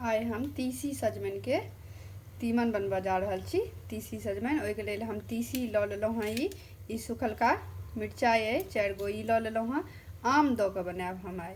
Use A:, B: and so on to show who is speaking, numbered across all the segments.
A: आइ हम तीसी सजमनिके तीमन बनबऽ जा रहल छी तीसी सजमनि ओहिके लेल हम तीसी लऽ लेलहुँ हँ ई ई सुखलका मिरचाइ अइ चारि गो ई लऽ लेलहुँ हँ आम दऽ कऽ बनायब हम आइ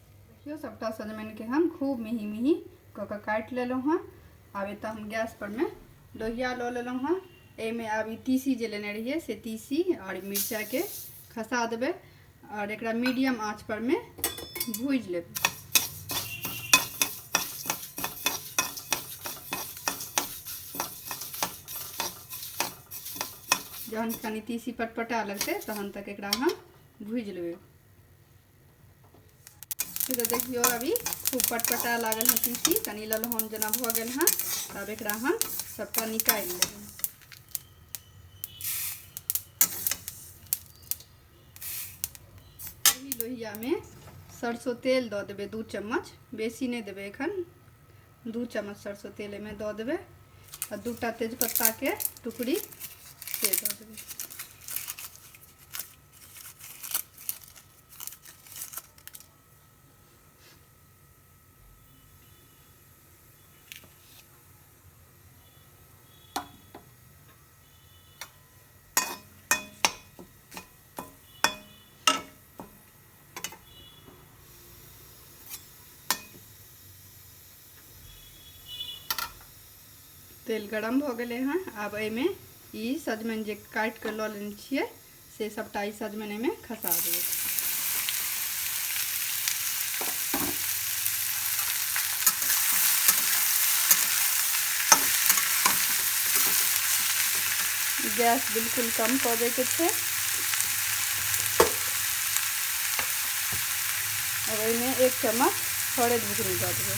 A: देखियौ सभटा सजमनिके हम खूब मिही मिही कऽ कऽ काटि लेलहुँ हँ आब एतऽ हम गैस परमे लोहिया लऽ लेलहुँ हँ एहिमे आब ई तीसी जे लेने रहियै से तीसी आओर मिरचाइके खसा देबै आओर एकरा मीडियम आँच परमे भूजि लेबै जहन कनि तीसी पटपटा लगतै तहन तक एकरा हम भूजि लेबै फिर तो देखियो अभी खूब पटपटा लागल है तीसी कनी ललहन जना भ गल है तब एक हम सबटा निकाल लेब लोहिया में सरसों तेल द देवे दू चम्मच बेसी नहीं देवे एखन दू चम्मच सरसों तेल में द देवे और दूटा तेजपत्ता के टुकड़ी से द देवे तेल गरम भऽ गेलै हँ आब एहिमे ई सजमनि जे काटि कऽ लऽ लेने छियै से सबटा ई सजमनि एहिमे खसा देबै गैस बिल्कुल कम कऽ दैके छै अब एहिमे एक चम्मच हरद बुकनी दऽ देबै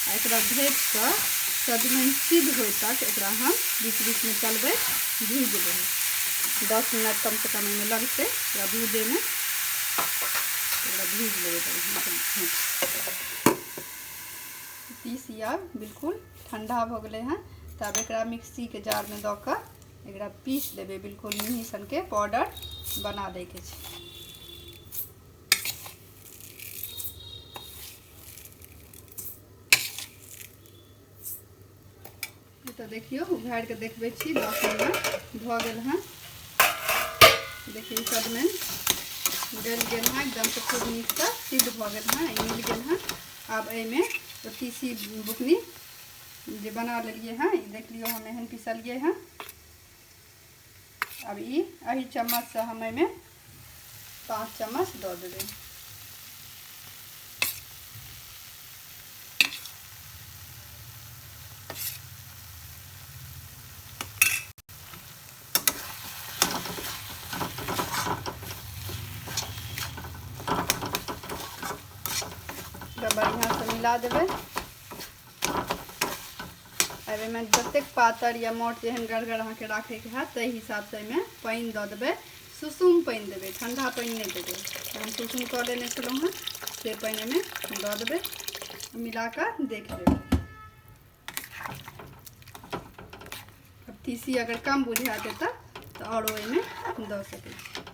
A: आ एकरा ढकि कऽ सजमनि सिद्ध होइ तक एकरा हम बीच बीचमे चलबै भूजबै दस मिनट कमसँ कम एहिमे लगतै एकरा भूजैमे एकरा भूज लेबै बढ़िआँसँ पीसी आब बिल्कुल ठण्डा भऽ गेलै हँ तऽ आब एकरा मिक्सीके जारमे दऽ कऽ एकरा पीस लेबै बिल्कुल मिही सनके पाउडर बना दैके छै तऽ देखियौ उघारि कऽ देखबै छी दस मिनट भऽ गेल हँ देखियौ सभमे गलि गेल हँ एकदमसँ खूब नीकसँ सिद्ध भऽ गेल हँ मिल गेल हँ आब एहिमे तीसी बुकनी जे बना लेलियै हँ ई देख लियौ हम एहन पिसलियै हँ अब ई एहि चम्मचसँ हम एहिमे पाँच चम्मच दऽ देबै बढ़िआँसँ मिला देबै आब एहिमे जतेक पातर या मोट जेहन गड़गर अहाँके राखैके हैत ताहि हिसाबसँ एहिमे पानि दऽ देबै सुसुम पानि देबै ठण्डा पानि नहि देबै हम सुसुम कऽ लेने छलहुँ हेँ से पानि एहिमे दऽ देबै मिला कऽ देख लेबै तीसी अगर कम बुझा देता तऽ आओर ओहिमे दऽ सकै छी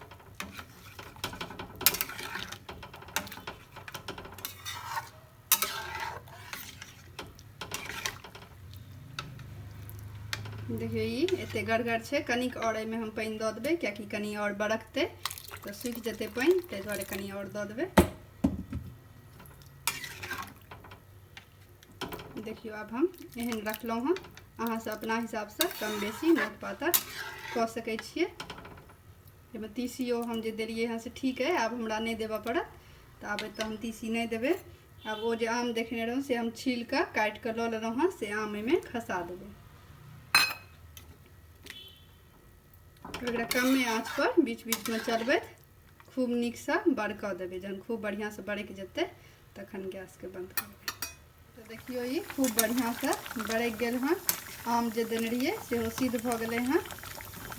A: देखियौ ई एतेक गड़गड़ छै कनिक आओर एहिमे हम पानि दऽ देबै कियाकि कनि आओर बरकतै तऽ सुखि जेतै पानि ताहि दुआरे कनि आओर दऽ देबै देखियौ आब हम एहन रखलहुँ हँ अहाँसभ अपना हिसाबसँ कम बेसी मोट पातर कऽ सकै छियै एहिमे तीसियो हम जे देलियै हँ से ठीक अइ आब हमरा नहि देबऽ पड़त तऽ आब एतऽ हम तीसी नहि देबै आब ओ जे आम देखने रहौँ से हम छील कऽ काटि कऽ लऽ लेलहुँ हँ से आम एहिमे खसा देबै एकरा कमे आँचपर बीच बीचमे चलबैत खूब नीकसँ बड़कऽ देबै जहन खूब बढ़िआँसँ बड़कि जेतै तखन गैसके बन्द करबै तऽ देखियौ ई खूब बढ़िआँसँ बरकि गेल हँ आम जे देने रहियै सेहो सिद्ध भऽ गेलै हँ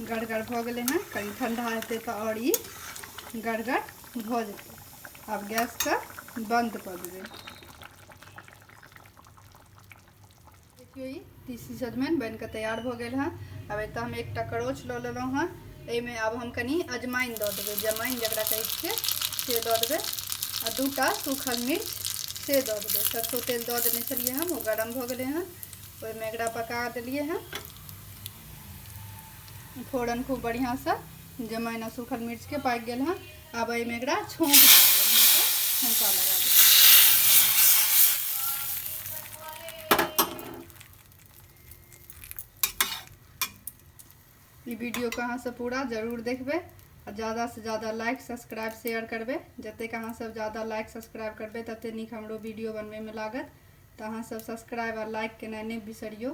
A: गड़गड़ भऽ गेलै हँ कनि ठण्डा हेतै तऽ आओर ई गड़गड़ भऽ जेतै आब गैसके बन्द कऽ देबै देखियौ ई तीसी सजमनि बनि कऽ तैयार भऽ गेल हँ आब एतऽ हम एकटा करोच लऽ लेलहुँ हँ एहिमे आब हम कनि अजमाइन दऽ देबै जमाइन जकरा कहै छियै से दऽ देबै आ दूटा सूखल मिर्च से दऽ देबै सरसो तेल दऽ देने छलियै हम ओ गरम भऽ गेलै हँ ओहिमे एकरा पका देलियै हँ फोरन खूब बढ़िआँसँ जमाइन आ सूखल मिर्चके पाकि गेल हँ आब एहिमे एकरा छौँक छौँका लगा देबै ई वीडियोके अहाँसभ पूरा जरूर देखबै आ ज्यादासँ ज्यादा लाइक सब्सक्राइब शेयर करबै जतेक अहाँसभ ज्यादा लाइक सब्सक्राइब करबै ततेक नीक हमरो वीडियो बनबैमे लागत तऽ अहाँसभ सब्सक्राइब आ लाइक केनाइ नहि बिसरियौ